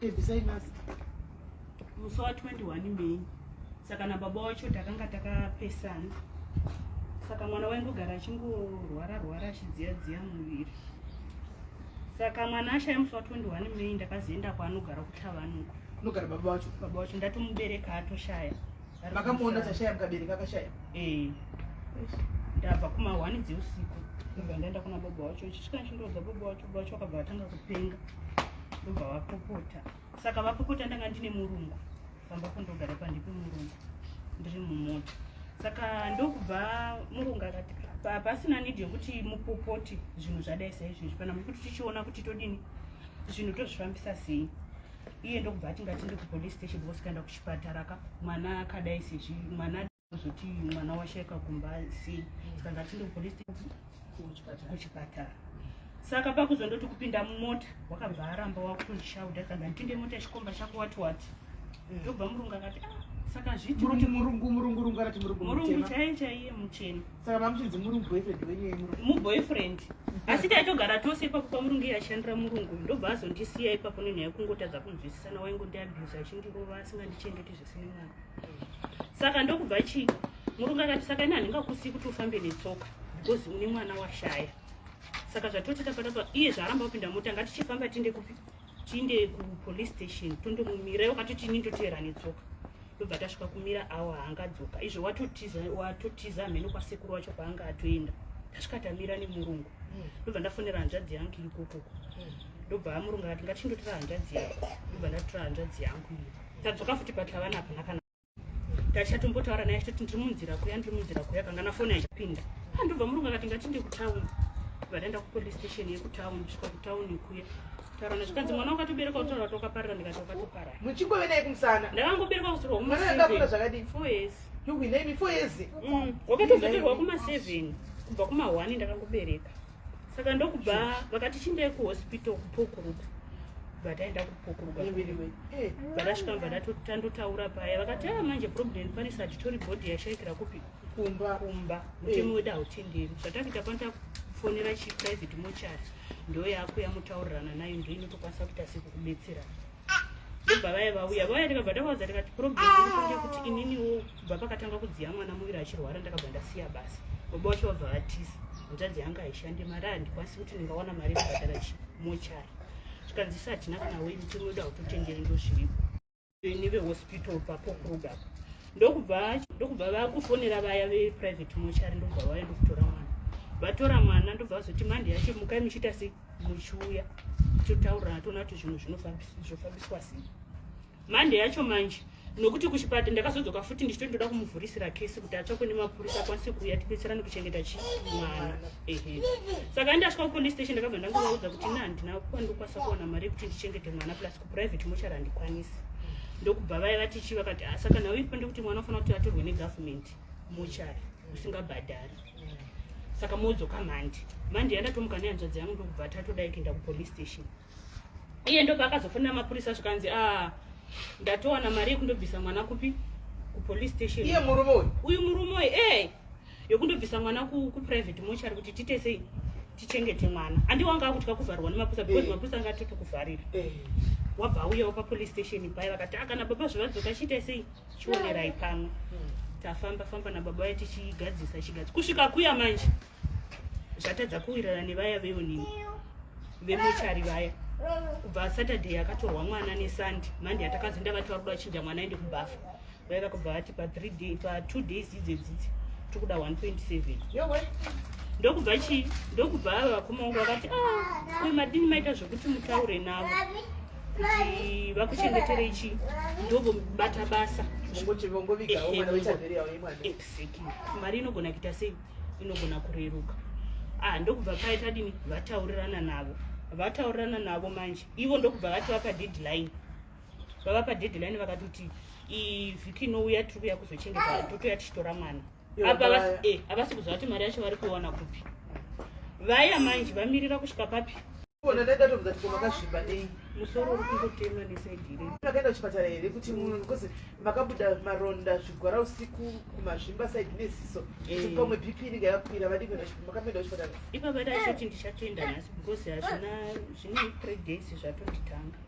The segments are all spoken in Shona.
Ebvisai mask. Musi wa 21 May. Saka na baba wacho takanga takapesana. Saka mwana waingogara achingorwara rwara achidziya dziya muviri. Saka mwana ashaya musi wa 21 May ndakazoenda kwaanogara kuThavanuko. Kunogara baba wacho. Baba wacho ndatomubereka atoshaya. Makamuona tashaya mukabereka akashaya. Eh. Ndabva kuma 1 dzeusiku. Ndibva ndaenda kuna baba wacho. Chisvika chindoudza baba wacho. vacho vakabva vatanga kupenga ndobva vapopota saka vapopota ndanga ndine murungu vamba kundogara pandipi murungu ndiri mumota saka ndokubva murungu akati pasina nidi yekuti mupopoti zvinhu zvadai saizvezvi pana mukuti tichiona kuti todini zvinhu tozvifambisa sei iye ndokubva atingati ndikupolice station vosikaenda kuchipatara ka mwana akadai sezvi mwana zvoti mwana washaika kumba asi saka ngatiende kupolice kuchipatara saka pakuzondoti kupinda mumota wakabva aramba wakutondishauda kana ndipinde mota chikomba chako wati wati mm. ndobva murungu akati ah, saka zviimuruti murungu murungu murungu arati murungu murungu chaiye chaiye muchena saka mamuchinzi murungu boyfriend wenye muboyfriend asi taitogara tose ipapo pamurungu iye ashandira murungu ndobva azondisiya ipapo nenyaya yekungotadza kunzwisisana waingondiabusa achindirova asingandichengeti zvisine mwana saka ndokubva chii murungu akati saka ini handingakusiyi kuti ufambe netsoka bcoz une mwana washaya saka zvatotita patapa iye zvaaramba kupinda mota ngatichifamba tiinde kupi tiinde kupolice station tondomumira iwo katoti ini ndoteera netsoka ndobva tasvika kumira awa haangadzoka izvo watotiza watotiza hameno kwasekuru wacho kwaanga atoenda tasvika tamira nemurungu hmm. ndobva ndafonera hanzvadzi yangu ikokoko hmm. ndobva amurungu akati ngatichindotira hanzvadzi yangu ndobva ndatora hanzvadzi yangu iyo tadzoka futi but havana hapana kana tachatombotaura naye achitoti ndiri munzira kuya ndiri munzira kuya kanga na foni achipinda andobva murungu akati ngati ndi kutauni vadaenda kupolice station yekutauni svika kutauni kuya taurana zvikanzi mwana wakatobereka kutaura kuti wakaparira ndikati wakatoparira muchingove naye kumusana ndakangobereka kusirwa kumaseveni zvakadii four years yuwinemi four years wakatozoterwa mm, kumaseveni kubva kuma one ndakangobereka saka ndokubva vakati chindei kuhospital kupokuruka vataenda kupokuruka eh, vakasvika mva tandotaura paya vakati aa ah, manje problem paris hatitori body yashaikira kupi kumba kumba mutemo eh. wedu hautenderi zvatakuita pano takufonera chiprivate mochari ndoyakuya motaurirana nayo ndoinotokwanisa kuita sekukubetsera ndobva vaya vauya vauya ndikabva ndavaudza ndikati probleemkanga kuti ininiwo kubva pakatanga kudziya mwana muviri achirwara ndakabva ndasiya basa baba wacho vabva vatiza hanzvadzi yanga haishandi mari handikwanisi kuti ndingawana mari yekubhadhara chimochari zvikanzi isa hatina kana wei mutemo wedu hautotenderi ndozviripo nevehospital papo kuruda ndokubva ndokubva vakufonera vaya veprivate mochari ndobva vaya ndokutora mwana vatora mwana ndobva vazoti mandi yacho mukai muchiita sei muchiuya totaurira toona kuti zvinhu zvinofambiswa sei mande yacho manje nokuti kuchipata ndakazodzoka futi ndichito ndoda kumuvhurisira kesi kuti atsvakwe nemapurisa akwanise kuuya tibetserane kuchengeta chi mwana ehe saka ndasvika kupolice station ndakabva ndangovaudza kuti na handina kwandikwanisa kuwana mari yekuti ndichengete mwana plus kuprivate mochari handikwanisi ndokubva vaya vati chi vakati ah, saka nhau iripo ndekuti mwana ufanira kuti atorwe negovernment mochari usingabhadhari saka modzoka mhandi mhandi yandatomuka nehanzvadzi yangu ndokubva tatodai kuenda kupolice station iye ndobva akazofonera mapurisa zvikanzi a ah, ndatowana mari yekundobvisa mwana kupi kupolice station iye murume uyu uyu murume uyu ee eh, yokundobvisa mwana kuprivate mochari kuti tiite sei tichengete mwana andi wanga akutya kuvharwa nemapurisa because eh. mapurisa anga atoti kuvharira eh. wabva auyawo papolice station paya vakati akana ah, baba zvavadzoka chiita sei chionerai pamwe tafamba famba nababa vaye tichigadzisa chigadzisa kusvika kuya manje zvatadza kuwirana nevaya veonini vemochari vaya kubva saturday akatorwa mwana nesunday monday atakazoenda vati vakuda vachinja mwana aende kubafa vaiva kubva vati pathree day patwo days idzedzidzi tiri kuda 127 ndokubva chii ndokubva ava vakomaungu vakati ah, uyu madini maita zvekuti mutaure navo vakuchengeterei chi ndovobata basa mari inogona kuita sei inogona kureruka ah ndokubva paye tadini vataurirana navo vataurirana navo manje ivo ndokubva vati vapa deadline vavapa deadline vakatoti ivhiki inouya tiri kuya kuzochengeta totoya tichitora mwana apa eh, havasi kuziva kuti mari yacho vari kuiwana kupi vaya manje vamirira kusvika papi ona ndaida tobvunza kuti makazvimba nei musoro uri kungotemwa nesaidire makaenda kuchipatara here kuti munhu because makabuda maronda zvigwara usiku kumazvimba saidi neziso kuti eh. pamwe bp inenge yakakwira vadii kuenda makaenda kuchipatara ipapa daisoti ndichatoenda nhasi because hazvina zvine three days zvatonditanga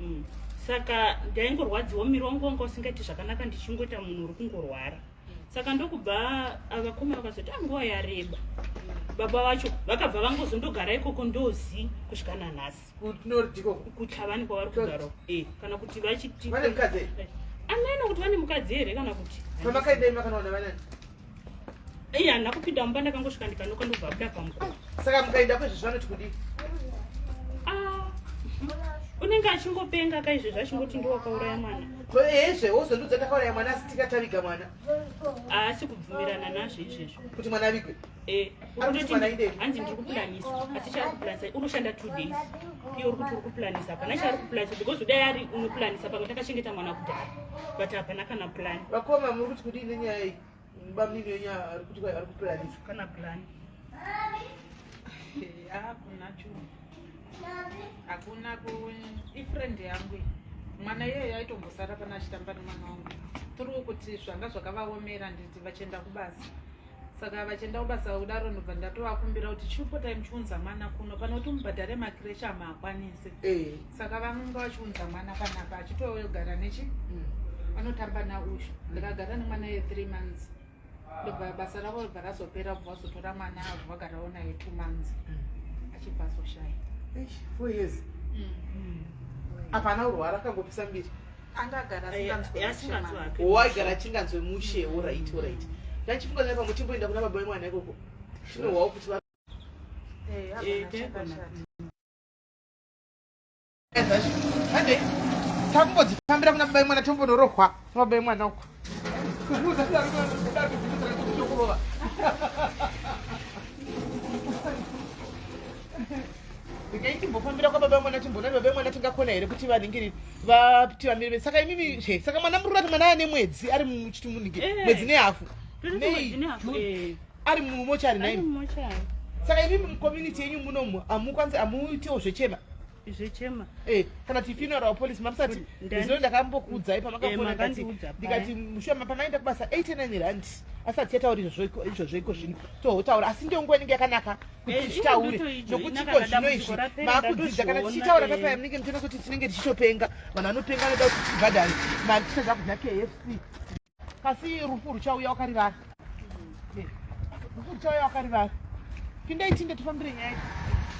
mm. saka ndaingorwadziwa mumiri wangu wanga usingaiti zvakanaka ndichingoita munhu uri kungorwara saka ndokubva vakoma vakazoti anguva ah, yareba baba vacho vakabva vangozondogara ikoko ndozi kusvika nanhasi kutavani kwavari kugara eh, kana kuti vachiti eh, anaina kuti vane mukadzi here kana kuti Iya nakupinda mumba ndakangosvika ndikanoka ndobva abuda pamukova. Saka mukaenda kwezvo zvanoti kudii? Ah, unenge achingopenga ka izvezvi achingoti ndiwakauraya mwana. Ko ezve wozondiudza ndakauraya mwana asi tikataviga mwana. Haasi kubvumirana nazvo izvezvo. Kuti mwana avigwe? Eh. hanzi ndiri kuplanisa asi chaari kuplanisa unoshanda two days iye uri kuti uri kuplanisa hapana chaari kuplanisa because kudai ari unoplanisa pamwe takachengeta mwana kudhara but hapana kana plan vakoma muri kuti kudii nenyaya iyi bamnini wenya ari kuti ari kuplanisa kana plan hakuna chu hakuna ku ifriend yangu mwana iyeyo aitombosara pana achitamba nemwana wangu tiri kuti zvanga zvakavaomera nditi vachienda kubasa saka vachienda kubasa kudaro ndobva ndatovakumbira kuti chipotai muchiunza mwana kuno pano kuti mubhadhare makireshi amaakwanise eh. saka vanonga vachiunza mwana panapa achitogara nechi mm. vanotamba nauyu ndikagara nemwana ye three months ndobva basa ravo ribva razopera bva vazotora mwana avo vagarawo naye two months mm. achibva azoshaya four years mm. apana urwara akangopisa mbiri aigara achinganzwe mushe orit orit ndachifunga zai pamwe chimboenda kuna baba vemwana ikoko chinohwawo kuti takumbodzifambira kuna baba vemwana tombonorohwa kuna baba vemwana uko ndikaitimbofambira kwa baba vemwana timbonani baba vemwana tingakona here kuti vaningiriri vati vamire saka imimi zve saka mwana murura kuti mwana aya nemwedzi ari muchiti munike Eh. mwedzi nehafu Tiri Nei? kumwedzi nehafu, Mu- eh. ari mumochari Ari naini mumochari. saka imimi mucommunity yenyu munomu amukwanisi amuitiwo zvechema Zvechema. Eh, kana kuti funeral wa police mamusati Ndani- izvo ndakambokuudzai Eh, pamakafona ndikati makandiudza paya. ndikati mushoma pamaenda kubasa 89 rand asati yataura izvozvo izvozvo iko zvino tohotaura asi ndiyo nguva inenge yakanaka kuti titaure nokuti ko zvino izvi maakudzidza kana tichitaura papaya munenge muchiona kuti tinenge tichitopenga vanhu vanopenga anoda kuti tibhadhare mari tisha zvakudya kfc kasi rufu ruchauya wakarivara rufu ruchauya wakarivara pindai tinde tifambire nyaya idzi